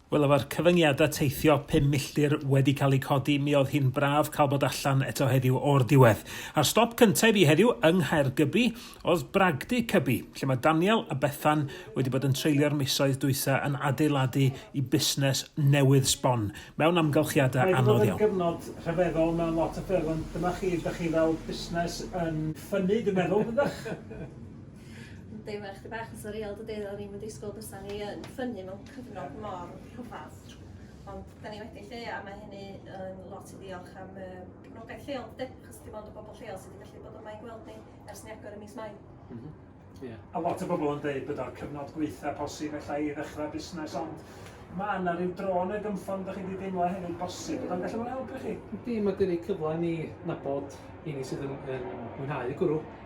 Wel efo'r cyfyngiadau teithio pum milltir wedi cael eu codi mi oedd hi'n braf cael bod allan eto heddiw o'r diwedd. A'r stop cyntaf i fi heddiw yng Nghaergybi oedd Bragdy Cybi lle mae Daniel a Bethan wedi bod yn treulio'r misoedd dwytha yn adeiladu i busnes newydd sbon mewn amgylchiadau anodd iawn. Mae wedi bod yn gyfnod rhyfeddol mewn lot o ffyrdd ond dyma chi, dych chi fel busnes yn ffynnu dwi'n meddwl dydych? Yndi, mae chdi bach yn surreal dydi? O'n i'm yn disgwyl bysa ni yn ffynnu mewn cyfnod mor rhyfadd. Ond da ni wedi lle a mae hynny yn lot i ddiolch am y gefnogaeth lleol dydi? Achos dim ond y bobl lleol sydd wedi gallu bod yma i gweld ni ers ni agor ym mis Mai. Mm -hmm. Yeah. A lot o bobl yn dweud bod o'r cyfnod gweitha posib efallai i ddechrau busnes, ond mae yna rhyw dron y gymffon ydych chi wedi deimlo hefyd bosib, byddai'n gallu bod yn helpu chi? Ydy, mae gen i cyfle ni nabod i ni sydd yn, yn mwynhau y gwrw.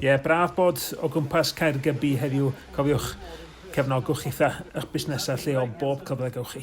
Ie, yeah, braf bod o gwmpas Caergybi heddiw. Cofiwch, cefnogwch eitha eich busnesau lleol bob cyfle gywch chi.